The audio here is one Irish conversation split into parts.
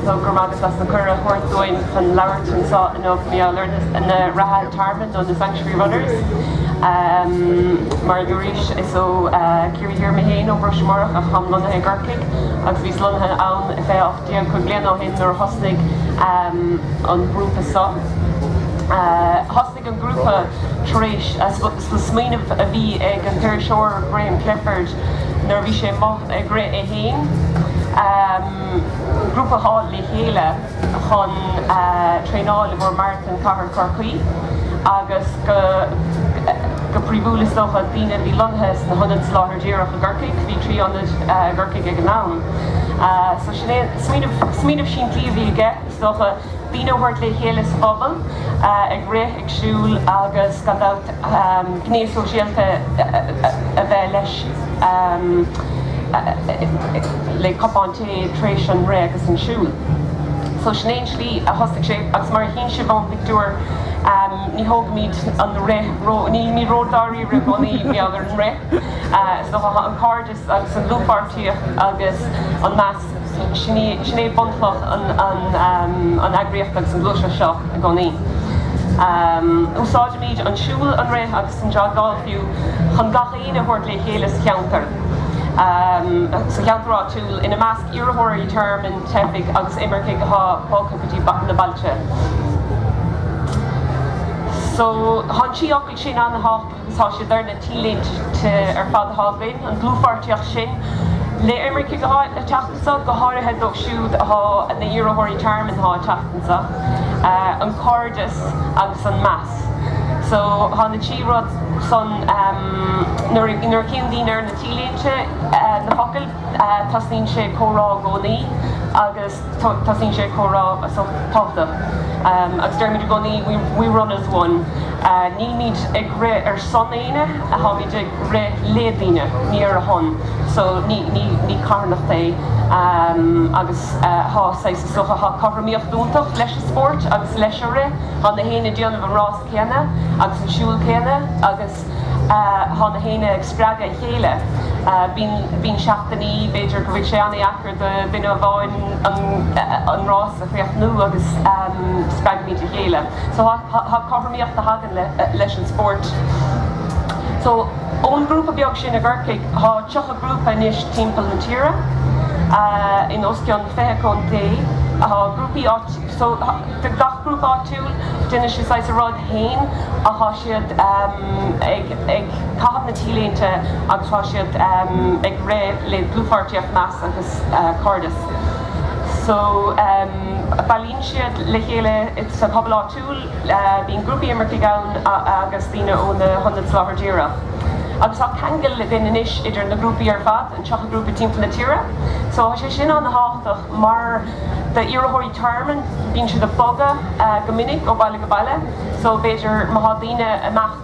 So go raibh maith agat as an cuireadh a thabhairt dúinn chun labhairt anseo inniu faoi Reathaithe na reatha tearmainn nó na sanctuary runners. Mar a dúradh arís, is ó Ciarraí Thiar mé féin, ó Ros Comáireach, ach táim lonnaithe i gCorcaigh agus bhíos lonnaithe ann le ocht mbliana. Déag, cúig bliana ó shin, nuair a thosnaigh an grúpa seo, thosnaigh an grúpa tar éis smaoineamh a bhí ag an iriseoir Graham Clifford nuair a bhí sé amuigh ag rith é féin, grúpa a fháil le chéile chun traenáil i gcomhair Marathon Chathair Chorcaí agus go príomha is dócha daoine a bhí lonnaithe sna hionaid Soláthair Díreach i gCorcaigh, bhí trí ionad i gCorcaigh ag an am. So sin é, smaoineamh, smaoineamh simplí a bhí aige, is dócha, daoine a thabhairt le chéile sa phobal, ag rith, ag siúl agus gan dabht gné sóisialta a bheith leis, le cupán tae tar éis an rith agus an siúil. So sin é an tslí a thosaigh sé agus mar a chíonn sibh ón bpictiúr, ní thógaimid an rith, ní, ní ródháiríre i gcónaí mar gheall ar an rith, is dócha, tá an cairdeas, agus an dlúthpháirtíocht agus an meas, sin é bunchloch an eagraíochta agus an ghluaiseacht seo i gcónaí. Úsáidimid an siúl, an rith agus an joggáil fiú chun gach éinne a thabhairt le chéile sa cheantar, sa cheantar áitiúil, ina measc iarrthóirí tearmainn, teifigh agus imircigh atá bogtha go dtí na bailte. So tá na trí fhocal sin an-thábhachtach. Tá siad ar na T-léinte ar fad atá againn, an dlúthpháirtíocht sin le himircigh atá ag teacht anseo, go háirithe dóibh siúd atá ina iarrthóirí tearmainn atá ag teacht anseo, an cairdeas agus an meas. So tá na trí rud san, nuair a chíonn daoine ar na T-léinte, na focail, tosnaíonn sé comhrá i gcónaí agus. Tosaíonn sé comhrá tábhachtach agus deirimid i gcónaí we run as one. Nílimid ag rith ar son éinne, táimid ag rith le daoine, ní ar a shon. So ní carthanacht é agus tá saghas is dócha tá cothromaíocht iontach leis an spórt agus leis an rith. Tá gach éinne ag déanamh an rása céanna agus an siúl céanna agus tá gach éinne ag spreagadh a chéile. Bíonn seachtainí, b'fhéidir go bhfuil sé an-deacair do dhuine amháin an rás a chríochnú agus spreagaimid a chéile. So tá cothromaíocht a thagann leis an spórt. So ón ghrúpa beag sin i gCorcaigh, tá 30 grúpa anois timpeall na tíre, in os cionn 20 contae. Tá grúpaí áitiúla, so gach grúpa áitiúil, déanann siad saghas a rud féin ach tá siad ag. ag caitheamh na T-léinte agus tá siad ag rith le dlúthpháirtíocht, meas agus cairdeas. So, bailíonn siad le chéile sa phobal áitiúil, bíonn grúpaí imirceach ann agus daoine ó na hionaid soláthar díreach. Agus tá ceangal againn anois idir na grúpaí ar fad, an 30 grúpa timpeall na tíre. So, tá sé sin an-tábhachtach mar d'iarrthóirí tearmainn, bíonn siad ag bogadh go minic ó bhaile go baile, so b'fhéidir má tá daoine i measc.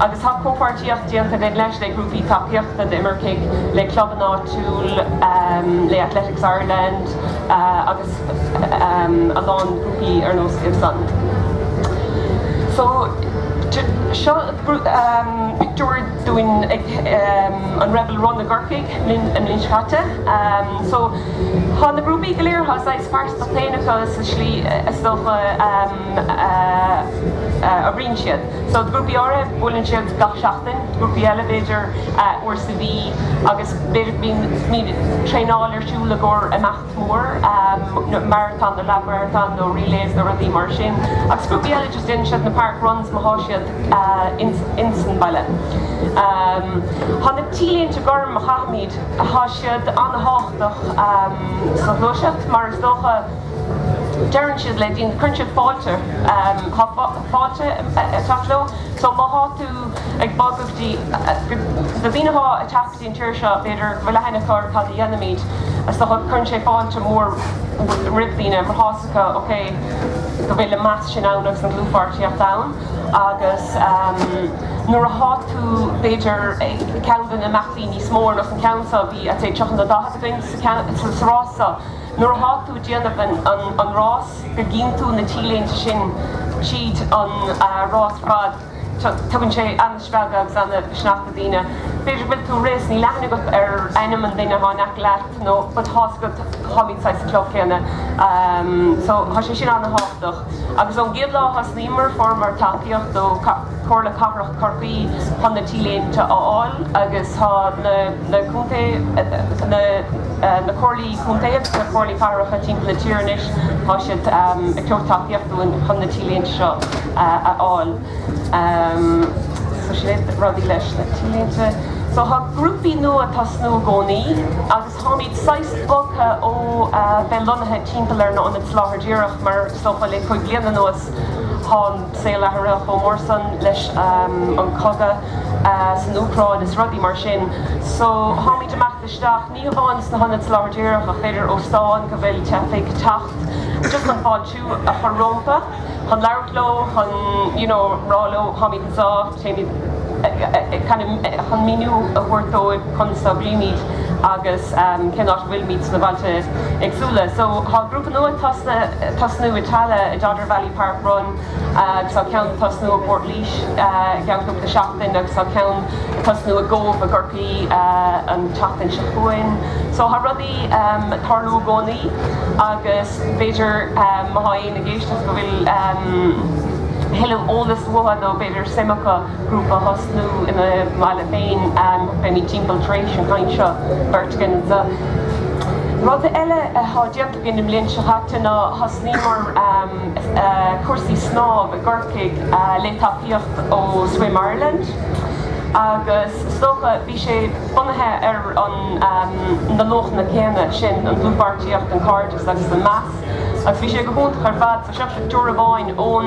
agus tá comhpháirtíocht déanta againn leis, le grúpaí tacaíochta d'imircigh, le clubanna áitiúla, le Athletics Ireland agus a lán grúpaí ar nós GiveSuns. So, seo pictiúr dínn ag an Rebel Run i gCorcaigh an bhliain seo caite. So, tá na grúpaí go léir, tá saghas pearsantachta féin acu sa slí is dócha a oibríonn siad. So, grúpaí áirithe, buaileann siad gach seachtain, grúpaí eile, b'fhéidir, uair sa mhí, agus b'fhéidir go mbíonn, bíonn traenáil ar siúl i gcomhair imeacht mór, maratón nó leathmharatón nó relays nó rudaí mar sin. Agus grúpaí eile, just déanann siad na park runs má thá siad ins, ins an bhaile. Thá na T-léinte gorm a chaithimid, thá siad an-thábhachtach sa ghluaiseacht, mar is dócha, deireann siad le daoine, cuireann siad fáilte, thá, fáilte ag teacht leo. So má thá tú ag bogadh go dtí, na daoine athá ag teacht go dtí an tír seo, b'fhéidir go bhfuil aithne acu ar cad a dhéanaimid. So cuireann sé fáilte mhór roimh daoine mar thá 's acu, ok, go bhfuil an meas sin ann agus an dlúthpháirtíocht ann. Agus nuair athá tú b'fhéidir ag ceann de na imeachtaí níos mó, ar nós an ceann seo, bhí I'd say 30 nó 40 againn sa rás seo, nuair a thá tú ag déanamh an rás go gcíonn tú na t-léinte sin tríd an rás ar fad tugann sé ana-spreagadh agus ana-mhisneach do daoine. B'fhéidir go bhfuil tú ag rith 's níl aithne agat ar ainm an duine athá in aice leat nó but thá 's agat tháimíd saghas sa chlub céanna so thá sé sin ana-thábhachtach. Agus ón gcéad lá thosnaíomar fuaireamar tacaíocht ó Chomhairle Cathrach Chorcaí chun na t-léinte a fháil agus tá na na contae, na na comhairlí contae agus na comhairlí cathracha timpeall na tíre anois, tá siad ag tabhairt tacaíocht dúinn chun na t-léinte seo a fháil. So sin rudaí leis na t-léinte. So tá grúpaí nua ag tosnú i gcónaí agus. Táimid saghas bogtha ó bheith lonnaithe timpeall ar na hionaid soláthair díreach mar is dócha. Le cúig bliana anuas tá an saol athraithe chomh mór san leis an cogadh san Úcráin is rudaí mar sin so táimid imeacht isteach ní hamháin sna hionaid soláthair díreach ach b'fhéidir óstáin go bhfuil teifigh ag teacht just chun fáiltiú a chur rómpa. chun labhairt leo, chun, you know, rá leo, táimid anseo, téimid, kind of, chun míniú a thabhairt dóibh conas a oibrímid agus cén áit a bhfuilimid sna bailte éagsúla. So, tá grúpa nua ag tosnú i Tallaght, i Dodder Valley Park Run, agus tá ceann ag tosnú i bPort Laois i gceann cúpla seachtain agus tá ceann ag tosnú i gCóbh i gCorcaigh an tseachtain seo chugainn. So, tá rudaí ag tarlú i gcónaí agus b'fhéidir, má tá aon, éinne ag éisteacht go bhfuil a thuilleadh eolais uathu, nó b'fhéidir suim acu grúpa a thosnú ina mbaile féin, beimid timpeall tar éis an chaint seo, beirt againn anseo. Rud eile atá déanta againn an bhliain seo caite ná thosnaíomar cúrsaí snámh i gCorcaigh le tacaíocht ó Swim Ireland agus is dócha bhí sé bunaithe ar an na luachanna céanna sin, an dlúthpháirtíocht, an cairdeas agus an meas. Agus bhí sé go hiontach ar fad. So seo pictiúr amháin ón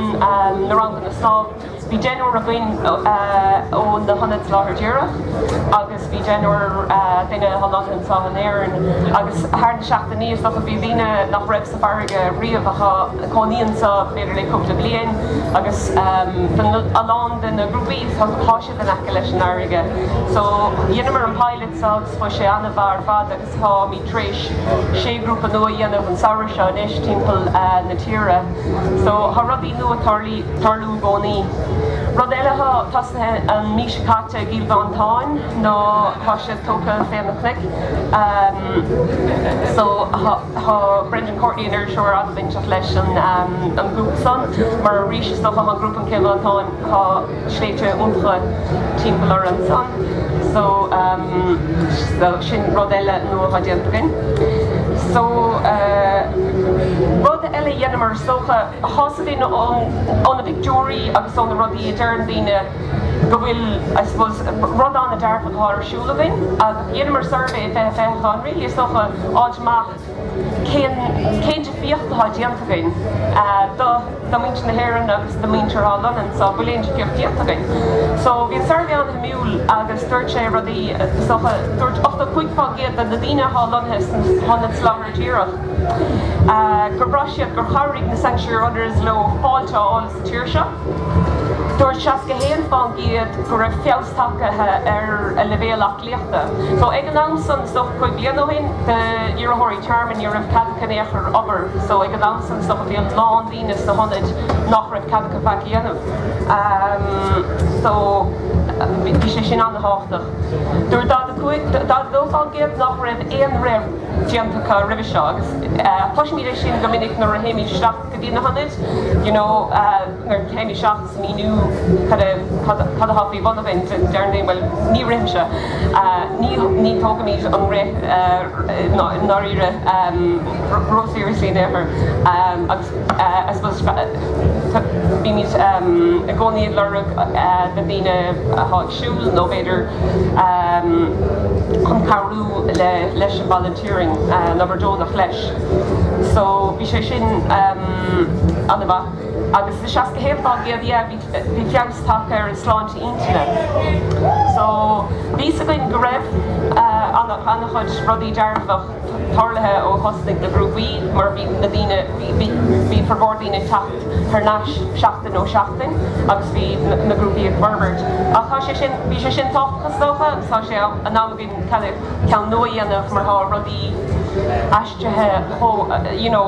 na ranganna snámha. Bhí deichniúr againn ó na hionaid soláthair díreach agus bhí deichniúr duine lonnaithe anseo in Éirinn. Agus thar na seachtainí is dócha bhí daoine nach raibh sa bhfarraige riamh ach a chónaíonn anseo b'fhéidir le cúpla bliain agus b'in a lán de na grúpaí so thá siad in aice leis an fharraige. So dheineamar an pilot seo agus chuaigh sé an-mhaith ar fad agus. Táimid tar éis sé ghrúpa nua a dhéanamh an samhradh seo anois timpeall na tíre so tá rudaí nua ag tarlú i gcónaí. Rud eile atá tosnaithe an mhí seo caite i gCill Mhantáin ná tá siad tugtha fé na cnoic so tá Brendan Courtney an iriseoir an-bhainteach leis an ghrúpa san mar arís is dócha tá an grúpa in Cill Mhantáin, tá. sléibhte iontacha timpeall orainn ansan so sin rud eile nua atá déanta againn so rud eile a dheineamar is dócha tá a fhios againn ó na pictiúirí agus ó na rudaí a deireann daoine go bhfuil I suppose rud ana dearfach atá ar siúl againn ach dheineamar suirbhé i bhfiche fiche chun really is dócha fáil amach Cén difríocht atá déanta againn do mhuintir na hÉireann agus do mhuintir atá lonnaithe anseo? an bhfuil aon difríocht déanta againn? Só, bhí an suirbhé an-shuimiúil agus dúirt sé rudaí, is dócha, dúirt 85 fán gcéad de na daoine atá lonnaithe sna hionaid Soláthair Dhíreach gur bhraith siad gur chabhraigh na Sanctuary Runners leo fáilte a fháil sa tír seo. Dúirt 61 fán gcéad go raibh feabhas tagtha ar a leibhéal So ag an am san, so cúig bliana ó shin, d'iarrthóirí tearmainn, ní raibh cead acu in aon chor obair. So ag an am san, so bhí a lán daoine sna hionaid nach raibh cead acu faic a dhéanamh. So bhí sé sin an-tábhachtach. Dúirt 42% nach raibh aon rud déanta acu roimhe seo agus cloisimid é sin go minic nuair a théimid isteach. go dtí na hionaid you know nuair a théimid isteach ag míniú cad a cad a cad atá faoi bhun againn deir daoine bhuel ní rithimse ní ní tógaimid an rith i ndáiríre ró seriously in aon chor agus I suppose bímid i gcónaí ag lorg na ndaoine atá ag siúl nó b'fhéidir chun cabhrú le leis an bhaile teorainn na Burdónach leis so bhí sé sin an-mhaith agus i seasca haon fá gcéad yeah bhí bhí feabhas tagtha ar an sláinte intinne so bhí 's againn go raibh an-chuid rudaí dearfach tarlaithe ó thosnaigh na grúpaí mar bhí na daoine bhí bhí formhór daoine ag teacht thar n-ais seachtain ó seachtain agus bhí na grúpaí ag forbairt ach tá sé sin bhí sé sin tábhachtach is dócha agus tá sé in am ceann nua a dhéanamh mar tá rudaí aistrithe ó, you know,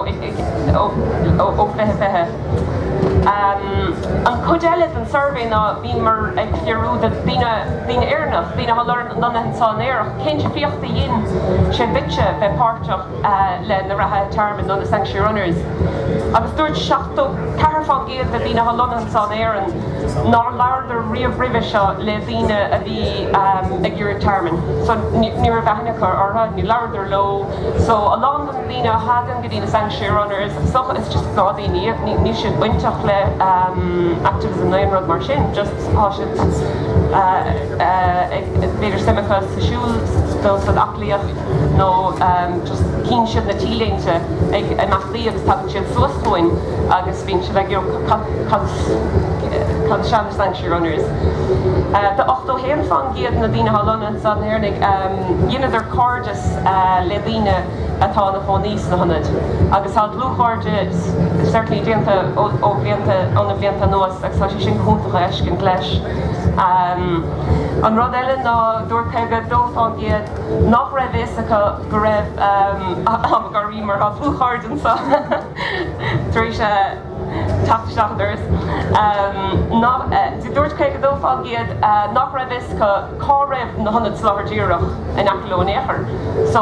ó fiche fiche. An chuid eile den suirbhé ná bhíomar ag fiafraí de daoine, daoine Éireannach, daoine atá lonnaithe anseo in Éirinn, cén difríocht a dhein sé duitse bheith páirteach, le na reathaithe tearmainn nó na sanctuary runners agus dúirt 74 fán gcéad de dhaoine atá lonnaithe anseo in Éirinn nár labhradar riamh roimhe seo le daoine a bhí ag iarraidh tearmainn so ní raibh aithne acu orthu, ní labhradar leo so a lán de na daoine a thagann go dtí na sanctuary runners so is just gnáthdaoine iad, níl siad bainteach le activism nó aon rud mar sin just tá siad ag b'fhéidir suim acu sa siúl nó san aclaíocht. nó chíonn siad na T-léinte ag imeachtaí agus tagann siad suas chugainn agus bíonn siad ag iarraidh cad is ann Sanctuary Runners. 81 fán gcéad na daoine atá lonnaithe anseo in Éirinn, dheineadar cairdeas le daoine atá ina chónaí sna hionaid agus tá dlúthchairdeas certainly déanta ó bhlianta ó na blianta anuas agus tá sé sin go hiontach a fheiscint leis. An rud eile ná dúirt 52 fán gcéad, nach raibh fhios acu go raibh Margaret mo dhlúthchara ansan tar éis teacht isteach an doras, dúirt 52 fá gcéad nach raibh fhios acu cá raibh na hionaid soláthar díreach in aice leo in aon chor, so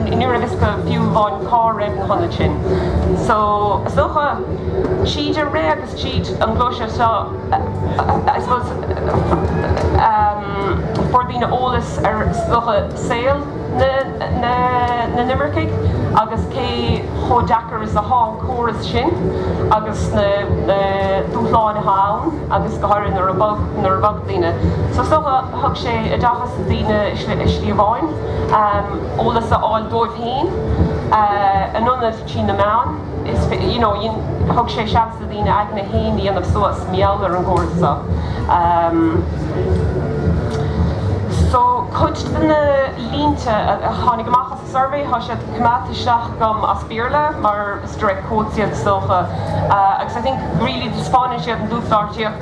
ní raibh fhios acu fiú amháin cá raibh na hionaid sin. So is dócha, tríd an rith agus. tríd an gluaiseacht seo, I suppose, fuair daoine eolas ar is dócha saol na n-imircigh agus cé chomh deacair is atá an córas sin agus na dúshláin atá ann agus go háirithe nuair a bhog, nuair a bhog daoine. So is dócha thug sé oideachas do daoine i slí amháin, eolas a fháil dóibh féin, in ionad. trí na meáin. Is féidir, you know, thug sé seans do dhaoine a n-aigne féin a dhéanamh suas, mar gheall ar an gcóras seo. So, cuid de na línte a tháinig amach as an suirbhé, tá siad coimeádta isteach agam as Béarla, mar is direct quotes iad is dócha, agus I think really taispeáineann siad an dlúthpháirtíocht,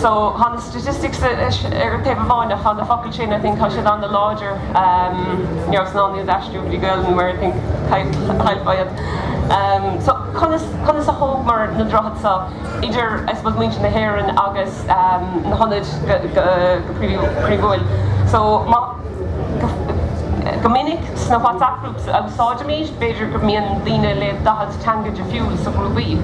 So thá na statistics ar an taobh amháin ach thá na focail sin I think thá siad an-láidir you know so in ionad aistriú go dtí Gaeilge mar I think chaillfeá iad. So conas conas a thógamar na droichid seo idir I suppose muintir na hÉireann agus na hionaid go príomhúil. So má go minic sna WhatsApp groups a úsáidimid b'fhéidir go mbíonn daoine le daichead teanga difriúil sna grúpaí,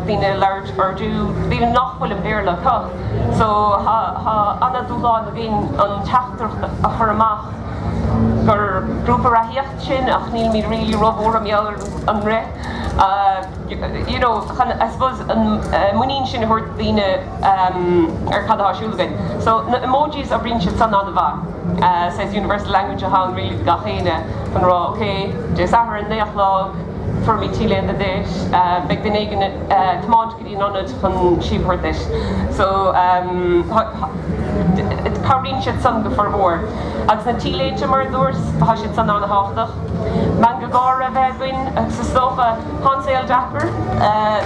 daoine a labhairt. Urdu daoine nach bhfuil an Béarla acu. So tá ana dúshláin againn an teachtaireacht a chur amach gur grúpa reathaíocht sinn ach nílimid really róbhuartha mar gheall ar an rith you know chun I suppose an muinín sin a thabhairt do daoine ar cad atá siúl againn. So na emojis oibríonn siad san ana mhaith. So is universal language atá ann really do gach éinne chun a rá ok Dé Sathairn naoi a chlog fuair mé T-léine duit beidh duine éigin thiomáint go dtí an ionad chun síob a thabhairt duit so cabhraíonn siad san go fíormhór agus na T-léinte mar a dúirt tá siad san an-thábhachtach meangadh gáire a bheith againn agus is dócha tá an saol deacair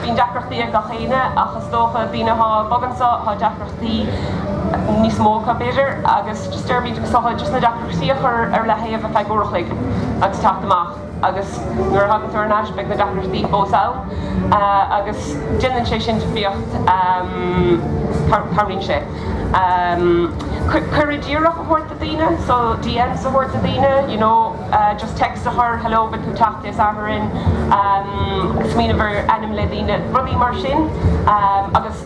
bíonn deacrachtaí ag gach éinne ach is dócha daoine atá bogtha anseo tá deacrachtaí níos mó acu b'fhéidir agus just deirimid is dócha just na deacrachtaí a chur ar leathaobh ar feadh uair a chloig agus teacht amach. agus nuair a thagann tú thar n-ais beidh na deacrachtaí fós ann agus déanann sé sin difríocht, cabhraíonn sé cuireadh díreach a thabhairt do daoine, so DMs a thabhairt do daoine, you know just text a chur, hello beidh tú ag teacht Dé Sathairn, smaoineamh ar ainm le daoine, rudaí mar sin agus.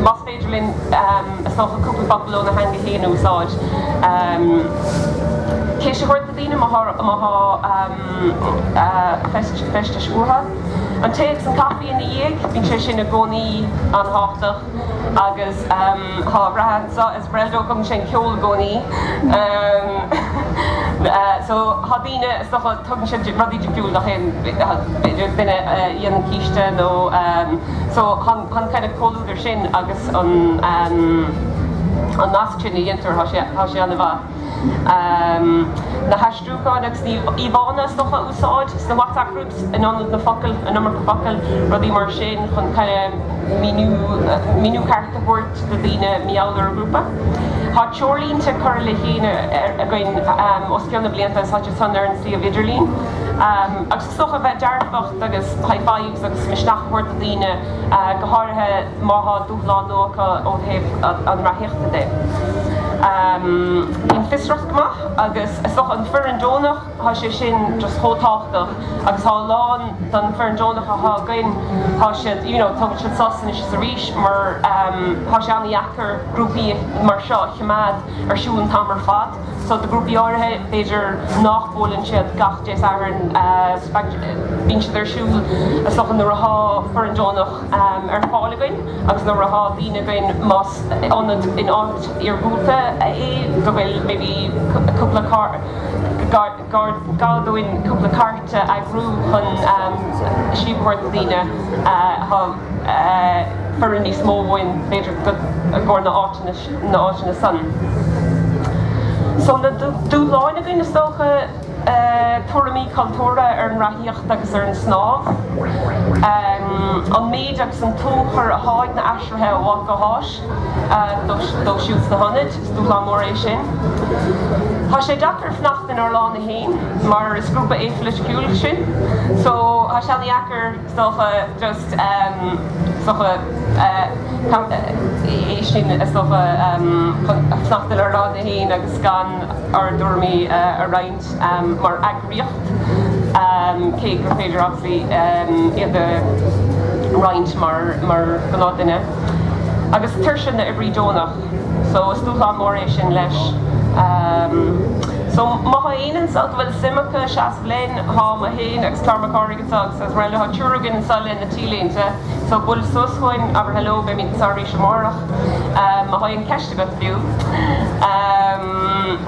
Más féidir linn, is dócha, cúpla focal óna theanga féin a úsáid, ceist a thabhairt do daoine má tá feistis uathu, an tae agus an caife ina dhiaidh, bíonn sé sin i gcónaí an-thábhachtach, agus tá a rath anseo. Brenda Ó cumann sé an ceol i gcónaí so tá daoine is dócha tugann siad rudaí difriúil do féin b'fhéidir duine a dhéanann císte nó so chun chun kind of comhluadar sin agus an an nasc sin a dhéantar tá sé tá sé ana mhaith. Na haistriúcháin agus na íomhánna is dócha a úsáid sna. in ionad na focail, an iomarca focail, rudaí mar sin chun míniú ceart a thabhairt do daoine mar gheall ar an ngrúpa. Tá treoirlínte curtha le chéile againn os cionn na blianta is tá siad san ar an suíomh idirlín agus is dócha bheith dearfach agus high fives agus misneach a thabhairt do daoine go háirithe má tá dúshlán nua acu ó thaobh an reathaíochta de. Bíonn fiosracht go maith agus is dócha an foireann deonach. Tá sé sin just chomh tábhachtach agus tá a lán den foireann deonach atá againn, tá siad, you know, tugann siad sos anois is arís mar tá sé an-dheacair grúpaí mar seo a choimeád ar siúl an t-am ar fad. So do ghrúpaí áirithe, b'fhéidir nach mbuaileann siad gach Dé Sathairn, bíonn siad ar siúl so nuair atá foireann deonach ar fáil againn agus nuair atá daoine againn, más ionad in áit iargúlta é go bhfuil maybe cúpla carr, gá dúinn cúpla cairt a eagrú chun síob a thabhairt do daoine atá foireann níos mó uainn b'fhéidir go i gcomhair na áiteanna san. So na dúshláin againn is dócha tuairimí cultúrtha ar an reathaíocht agus ar an snámh, an méid agus an tionchar atá ag na aistrithe ó áit go háit, Dóibh siúd sna hionaid, is dúshlán mór é sin. Tá sé deacair fanacht inár lána fhéin, mar is grúpa apolitical sinn, so tá sé an-dheacair, is dócha, just, em, is dócha, eh, é sin, is dócha, em, fanacht inár lána fhéin agus gan ár dtuairimí a roinnt. mar eagraíocht, cé gur féidir obviously iad a roinnt mar ghnáth duine, agus tuirse na oibrí deonach. So is dúshlán mór é sin leis. So má thá éinne anso go bhfuil suim acu seasamh linn, thá mé féin agus Clár Mac Cárthaigh anso agus as rte, thá triúr againn anso leis na t-léinte, so buail suas chugainn, abair hello, beimíd anso arís amárach má thá aon cheist agat fiú.